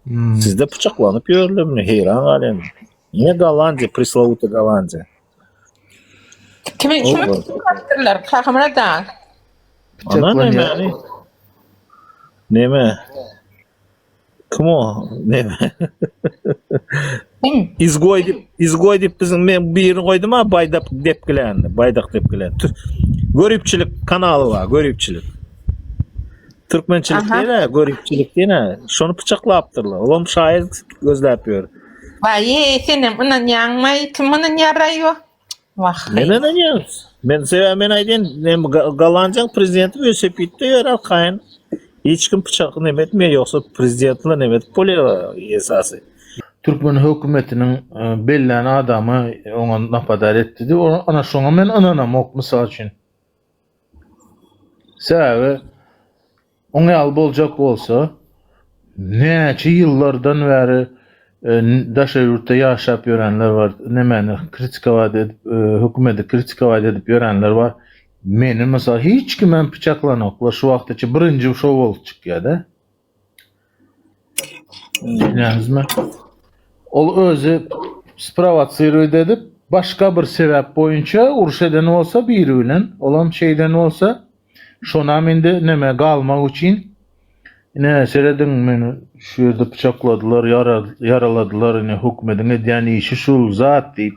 Hmm. Sizde pyçaklanyp ýörlemini heýran galýan. Ne Gollandiýa, preslowuta Gollandiýa. Kimi şu kaptyrlar, kahamra da. Ana näme? Näme? Kim o? Näme? Izgoý dip, izgoý dip biziň men birini goýdum ha baýdak depgilän, baýdak depgilän. Görüpçilik kanaly bar, görüpçilik. Türkmençilik Aha. diýene, göripçilik diýene, şony pyçaklapdyrlar. Olam şaýyr gözläp ýör. Baý, senem ynanýaňmy? Kim ynanýar-aý o? Wah. Men ynanýan. Men sebäbi men aýdýan, men Ga- Gollandiýanyň prezidenti welosipedde ýör arkaýyn. Hiç kim pyçak neme etmeýär, ýogsa prezident bilen neme edip bolýar esasy. Türkmen hökümetiniň e, bellän adamy oňa napadar etdi diýip, o- ana şoňa men ynanamok, mysal üçin. Sebäbi oň ýaly boljak bolsa, näçe ýyllardan bäri daşary ýurtda ýaşap ýörenler bar, nemäni kritikować edip, hökümeti kritikować edip ýörenler bar. Meni mysal hiç kimem pyçaklanoklar, şu wagtaça birinji şo bolup çykýa-da. Ol özi sprowasirowat edip, başga bir sebäp boýunça uruş eden bolsa biri bilen, olam şeýden bolsa, şonam indi näme galmak üçin, ine, serediň, meni şu ýerde pyçakladylar, ýaraladylar, ine, hökümetiň edýän işi şul zat diýip,